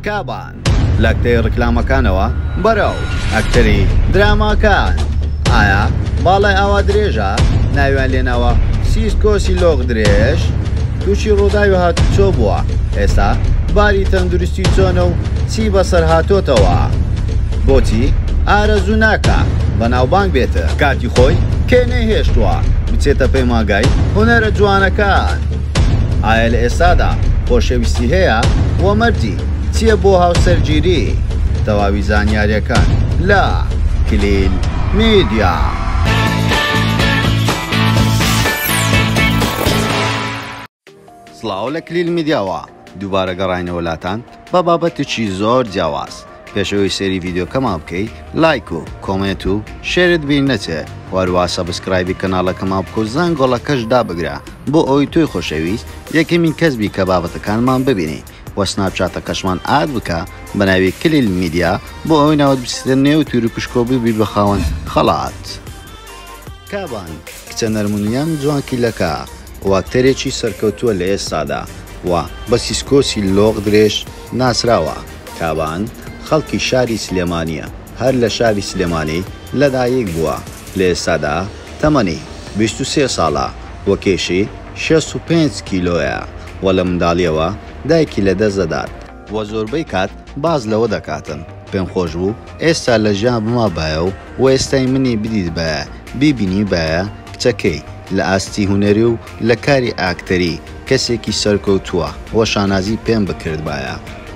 کابان لە کتەی ڕیکلامەکانەوە بەرەو ئەکتەری دراماکان ئایا باڵای ئاوا درێژە ناویان لێناوە سیسکۆسی لۆغ درێژ تووشی ڕووداوی هاتوچۆ بووە ئێستا باری تەندروستی چۆنە و چی بەسەر هاتۆتەوە بۆچی ئارەزوو ناکە بەناوبانگ بێتە کاتی خۆی کێ نەیهێشتووە بچێتە پەیمانگای هونەرە جوانەکان ئایا لە ئێستادا خۆشەویستی هەیە؟ وە مەرجی چییە بۆ هاوسەرگیری؟ تەواوی زانیاریەکان لە کلیل میدیا. سڵاو لە کلیل میدیاوە. دووبارە گەڕاینەوە لاتان بە بابەتێکی زۆر جیاواز پێشەوەی سەیری ڤیدیۆکەمان بکەی لایک و کۆمێنت و شێرت بیر نەچێ و هەروا سەبسکرایبی کەناڵەکەمان بکەو زەنگۆڵەکەش دابگرە بۆ ئەوەی تۆی خۆشەویست یەکەمین کەس بی کە بابەتەکانمان ببینی و سناپچاتەکەشمان ئاد بکە بە ناوی کلیل میدیا بۆ ئەوەی ناوت بچێتە نێو تیروپشکەو ببی بە خاوەن خەڵات. کابان. کچە نەرمونیان جوانکیلەکە و ئەکتەرێکی سەرکەوتووە لە ئێستادا و بە سیسکۆسی لۆق درێژ ناسراوە. کابان خەڵکی شاری سلێمانییە، هەر لە شاری سلێمانی لەدایک بووە، لە ئێستادا تەمەنی بیست و سێ ساڵە و کێشی شەست و پێنج کیلۆیە و لە منداڵییەوە دایکی لەدەست دەدات. وە زۆربەی کات باس لەوە دەکاتن پێم خۆش بوو ئێستا لە ژیان بمابایە و وەئێستای منی بدیتبایە بیبینیبایە کچەکەی لە ئاستی هونەری و لە کاری ئاکتەری کەسێکی سەرکەوتووە وە شانازی پێم بکردبایە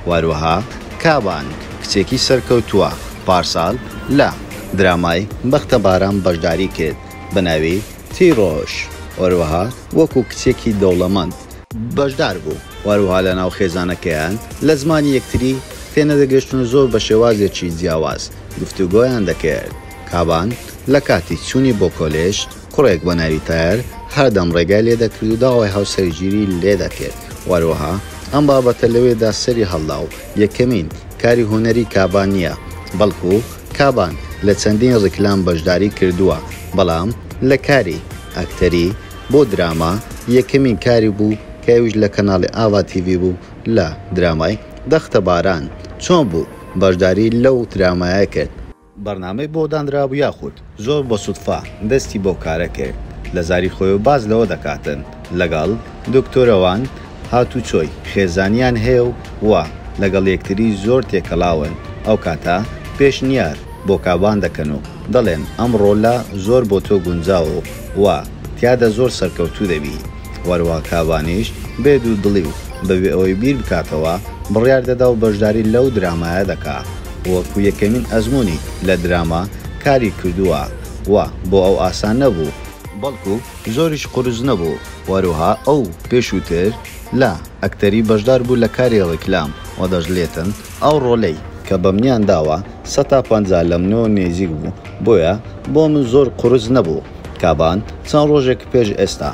وەروەها کابان کچێکی سەرکەوتووە پارسال لە درامای بەختە باران بەشداری کرد بەناوی تیرۆش وەروەها وەکو کچێکی دەوڵەمەند بەشدار بوو وهەروەها لەناو خێزانەکەیان لە زمانی یەکتری تێنەدەگەشتن و زۆر بە شێوازێکی جیاواز گفتوگۆیان دەکرد کابان لە کاتی چوونی بۆ کۆلێژ کوڕێک بە ناوی تایەر هەردەم ڕێگای لێدەکرد و داوای هاوسەرگیری لێدەکرد وهەروەها ئەم بابەتە لەوێدا سەری هەڵدا و یەکەمین کاری هونەری کابان نیە بەڵکو کابان لە چەندین ڕیکلام بەشداری کردووە بەڵام لە کاری ئەکتەری بۆ دراما یەکەمین کاری بوو کە ئەویش لە کەناڵی ئاڤا تیڤی بوو لە درامای، دەختە باران، چۆن بوو بەشداری لەو درامایە کرد؟ بەرنامەی بۆ دانرابوو یاخود زۆر بە سوتفە دەستی بەو کارە کرد؟ لە زاری خۆیەوە باس لەوە دەکاتن لەگەڵ، دکتۆرە وان، هاتوچۆی خێزانیان هەیە و وا لەگەڵ یەکتری زۆر تێکەڵاون، ئەوکاتە پێشنیار بۆ کابان دەکەن و دەڵێن ئەم ڕۆلە زۆر بۆ تۆ گونجاوە و وا تیادا زۆر سەرکەوتوو دەبی، وەروا کابانیش بێ دوو دڵی و بەبێ ئەوەی بیر بکاتەوە بڕیار دەدا و بەشداری لەو درامایە دەکا و وەکو یەکەمین ئەزموونی لە دراما کاری کردووە وا بۆ ئەو ئاسان نەبوو، بەڵکو زۆریش قورس نەبوو. و هەروەها ئەو پێشووتر لە ئەکتەری بەشدار بوو لە کاری ڕیکلام و دەشلێتن ئەو ڕۆلەی کە بەمنیان داوە سەد تا پەنجا لە منەوە نێزیک بوو بۆیە بۆ من زۆر قورس نەبوو کابان چەند ڕۆژێک پێش ئێستا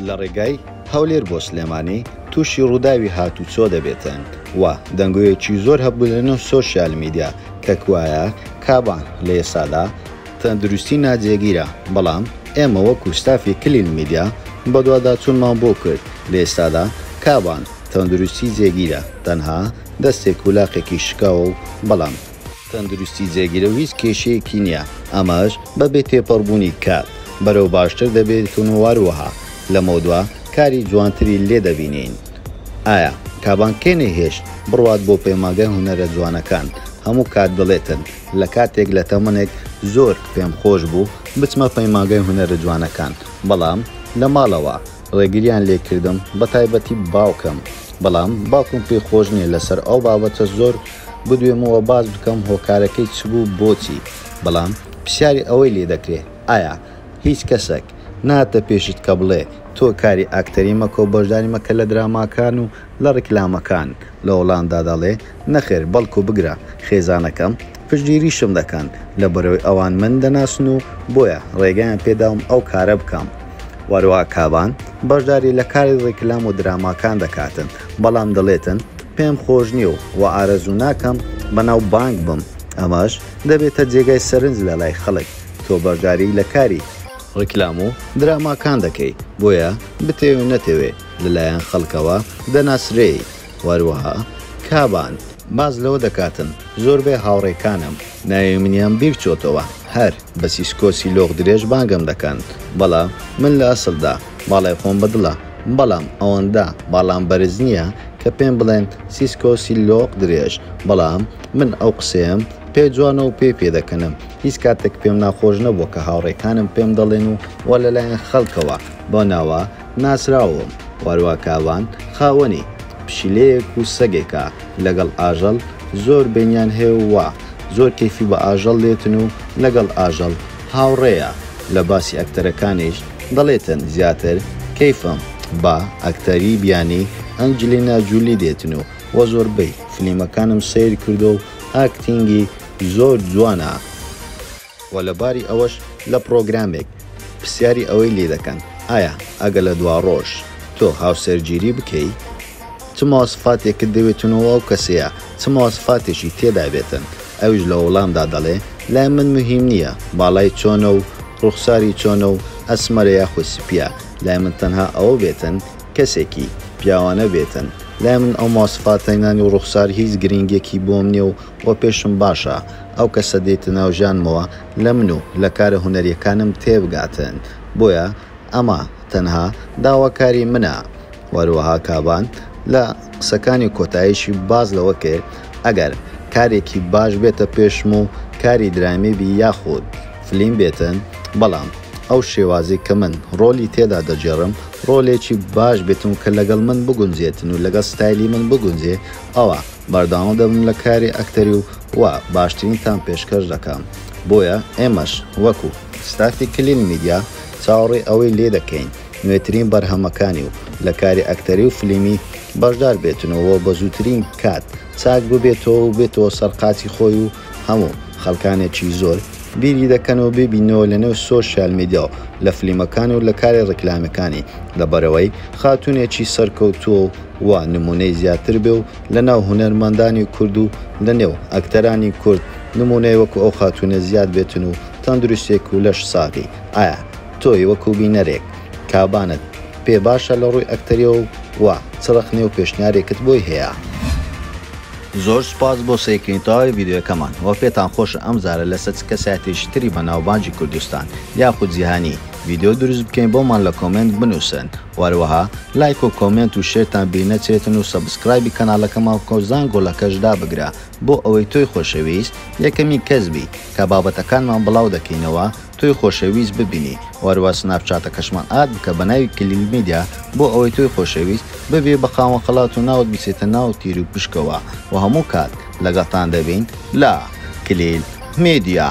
لە ڕێگای هەولێر بۆ سلێمانی تووشی ڕووداوی هاتووچۆ دەبێتن و دەنگۆیەکی زۆر هەبوو لە نێو سۆشیال میدیا کە کوایە کابان لە ئێستادا تەندروستی ناجێگیرە، بەڵام ئێمە وەکو ستافی کلیل میدیا بەدواداچونمان بۆ کرد، لەئێستادا کابان تەندروستی جێگیرە، تەنها دەستێک و لاقێکی شکاوە و بەڵام. تەندروستی جێگیرە و هیچ کێشەیەکی نییە، ئەمەش بەبێ تێپەڕبوونی کات بەرەو باشتر دەبێتون و هەروەها لەمەودوا کاری جوانتری لێدەبینین. ئایا کابان کێ نەیهێشت بڕوات بۆ پەیمانگای هونەرە جوانەکان، هەموو کات دەڵێتن، لە کاتێک لە تەمەنێک زۆر پێم خۆش بوو بچمە پەیمانگای هونەرە جوانەکان بەڵام لە ماڵەوە ڕێگریان لێ کردم بە تایبەتی باوکم بەڵام باوکم پێی خۆش نیە لەسەر ئەو بابەتە زۆر بدوێم و باس بکەم هۆکارەکەی چ بوو بۆچی بەڵام پرسیاری ئەوەی لێ دەکرێ ئایا هیچ کەسەک ناتە پێشت کە بڵێ تۆ کاری ئاکتەری مەکە و بەشداری مەکە لە دراماکان و لە ڕیکلامەکان لە هۆڵاندا دەڵێ، نەخێر بەڵکو بگرە خێزانەکەم پشتگیریشم دەکەن لەبەرئەوەی ئەوان من دەناسن و بۆیە ڕێگەیان پێداوم ئەو کارە بکەم. هەروەها کابان بەشداری لە کاری ڕیکلام و دراماکان دەکاتن بەڵام دەڵێتن، پێم خۆش نییە و وە ئارەزوو ناکەم بەناو بانگ بم ئەمەش دەبێتە جێگای سەرنج لەلای خەڵک تۆ بەشداری لە کاری ڕیکلام و دراماکان دەکەی بۆیە بتەوێ نەتەوێ لەلایەن خەڵکەوە دەناسرێیت وەروەها کابان باس لەوە دەکاتن زۆربەی هاوڕێکانم ناوی منیان بیرچۆتەوە هەر بە سیسکۆسی لۆق درێژ بانگم دەکەن بەڵام من لە ئەسلدا باڵای خۆم بەدڵە بەڵام ئەوەندە باڵام بەرز نییە کە پێم بڵێن سیسکۆسی لۆق درێژ بەڵام من ئەو قسەیەم پێ جوانە و پێی پێ دەکەنم هیچ کاتێک پێم ناخۆش نەبووە کە هاوڕێکانم پێم دەڵێن و وە لەلایەن خەڵکەوە بەو ناوە ناسراوم واروا کاوان خاوەنی پشیلەیەک و سەگێکە لەگەڵ ئاژەڵ زۆر بەینیان هەیە و وا زۆر کەیفی بە ئاژەڵ دێتن و لەگەڵ ئاژەڵ هاوڕێیە لە باسی ئەکتەرەکانیش دەڵێتن زیاتر کەیفم بە ئەکتەری بیانی ئەنجلینا جولی دێتن و وە زۆربەی فلیمەکانم سەیر کردوە و ئاکتینگی زۆر جوانە. وە لە باری ئەوەش لە پڕۆگرامێک پرسیاری ئەوەی لی دەکەن ئایا ئەگەر لە دواڕۆژ تۆ هاوسەرگیری بکەی چ مواصفاتێکت دەوێتنۆ و ئەو کەسەیە چ مواصفاتێکی تێدا بێتن ئەویش لە وەڵامدا دەڵێ لای من مهیم نیە باڵای چۆنە و ڕوخساری چۆنە و ئەسمەرە یاخود سپیە لای من تەنها ئەوە بێتن کەسێکی پیاوانە بێتن لای من ئەو مواصفاتەنانی و ڕوخسار هیچ گرینگێکی بۆم نیە و وە پێشم باشە ئەو کەسە دێتە ناو ژیانمەوە لە من و لە کارە هونەریەکانم تێبگاتن بۆیە ئەمە تەنها داواکاری منە وەروەها کابان لە قسەکانی کۆتایشی باس لەوە کرد ئەگەر کارێکی باش بێتە پێشم و کاری درامی بی یاخود فلیم بێتن بەڵام ئەو شێوازی کە من ڕۆلی تێدا دەگێڕم ڕۆلێکی باش بێتن و کە لەگەڵ من بگونجێتن و لەگەڵ ستایلی من بگونجێ ئەوا بەردەوام دەبم لە کاری ئەکتەری و وا باشترینتان پێشکەش دەکەم، بۆیە ئێمەش وەکو ستافی کلین میدیا چاوەڕێی ئەوەی لێ دەکەین نوێترین بەرهەمەکانی و لە کاری ئەکتەری و فلیمی بەشدار بێتن و بە زووترین کات چاک ببێتەوە و بێتەوە سەر قاچی خۆی و هەموو خەڵکانێکی زۆر بیری دەکەن و ببیننەوە لە نێو سۆشیال میدیا و لە فلیمەکانی و لە کاری ڕیکلامیەکانی لە بەرەوەی خاتوونێکی سەرکەوتووە و وا نموونەی زیاتر بێ و لە ناو هونەرمەندانی کورد و لە نێو ئەکتەرانی کورد نموونەی وەکو ئەو خاتوونە زیاد بێتن و تەندروستێک و لەش ساغی ئایا تۆی وەکو بینەرێک کابانت پێ باشە لە ڕووی ئەکتەریەوە و وا چ ڕەخنێ و پێشنیارێکت بۆی هەیە؟ زۆر سوپاس بۆ سەیرکردنی تەواوی ڤیدیۆیەکەمان وە پێتان خۆشە ئەم جارە لەسەر چ کەسایەتیەکی تری بەناوبانگی کوردستان یاخود جیهانی ڤیدیۆ دروست بکەین بۆمان لە کۆمێنت بنووسن هەروەها لایک و کۆمێنت و شێرتان بیر نەچێتن و سەبسکرایبی کەناڵەکەمان بکە و زانگۆڵەکەش دابگرە بۆ ئەوەی تۆی خۆشەویست یەکەمین کەس بی کە بابەتەکانمان بڵاو دەکەینەوە تۆی خۆشەویست ببینی و هەروە سناپچاتەکەشمان ئاد بکە بە ناوی کلیل میدیا بۆ ئەوەی تۆی خۆشەویست ببی بە خاوەن خەڵات و ناوت بچێتە ناو تیر و پشکەوە و هەموو کات لەگەڵتان دەبین لە کلیل میدیا.